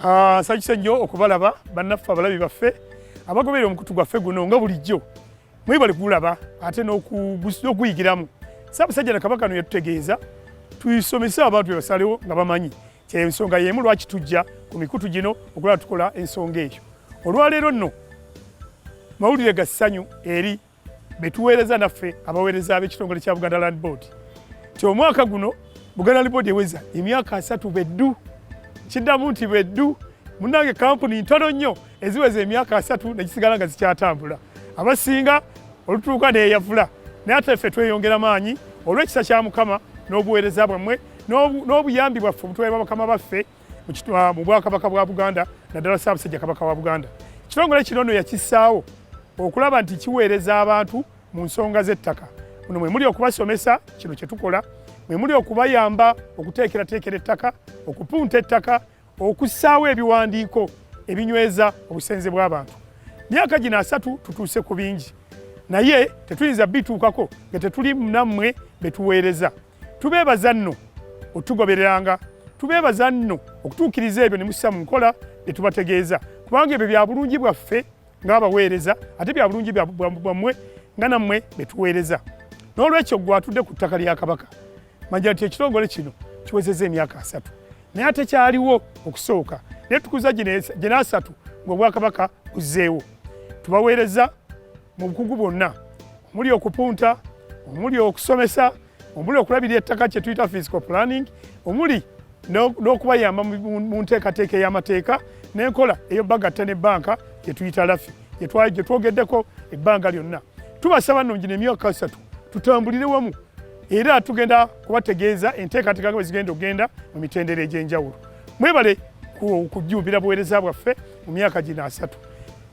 Ah, nsajuse nnyo okubalaba bannaffe abalabi baffe abagoberera omukutu gwaffe guno nga bulijjo mwebale kugulaba ate n'okuyigiramu saabasajja na kabaka no yatutegeeza tusomese abantu bebasalewo nga bamanyi kyensonga yemu lwaki tujja ku mikutu gino okulaba tukola ensonga eyo olwaleero nno mawulire ga ssanyu eri betuweereza naffe abaweereza ab'ekitongole kya Buganda Land Board nti omwaka guno Buganda Land Board eweza emyaka asatu beddu kiddamu nti beddu munange kampuni ntono nnyo eziweza emyaka asatu nekisigala nga zikyatambula abasinga olutuuka neyavula naye ate ffe tweyongera maanyi olw'ekisa kya mukama n'obuweereza bwammwe n'obuyambi bwaffe obutuweerwa bakama baffe mu bwakabaka bwa buganda naddala ssaabasajja kabaka wa buganda ekitongole kino no yakissaawo okulaba nti kiweereza abantu mu nsonga z'ettaka muno mwe muli okubasomesa kino kye tukola mwe muli okubayamba okuteekerateekera ettaka okupunta ettaka okussaawo ebiwandiiko ebinyweza obusenze bw'abantu myaka gino asatu tutuuse ku bingi naye tetuyinza bituukako nga tetuli nammwe betuweereza tubeebaza nno otugobereranga tubeebaza nno okutuukiriza ebyo ne mussa mu nkola bye tubategeeza kubanga ebyo bya bulungi bwaffe ng'abaweereza ate bya bulungi bwammwe nga nammwe be tuweereza n'olwekyo gwe atudde ku ttaka lya kabaka manja nti ekitongole kino kiwezeza emyaka asatu naye ate kyaliwo okusooka naye tukuza gina asatu ng'obwakabaka buzzeewo tubaweereza mu bukugu bwonna omuli okupunta omuli okusomesa omuli okulabira ettaka kye tuyita physical planning omuli n'okubayamba mu nteekateeka ey'amateeka n'enkola ey'obagatta ne banka gye tuyita lafi gye twogeddeko ebbanga lyonna tubasaba nno ngino emyaka satu tutambulire wamu era tugenda kubategeeza enteekateeka bwe zigenda okugenda mu mitendera egy'enjawulo mwebale kujjumbira buweereza bwaffe mu myaka gino asatu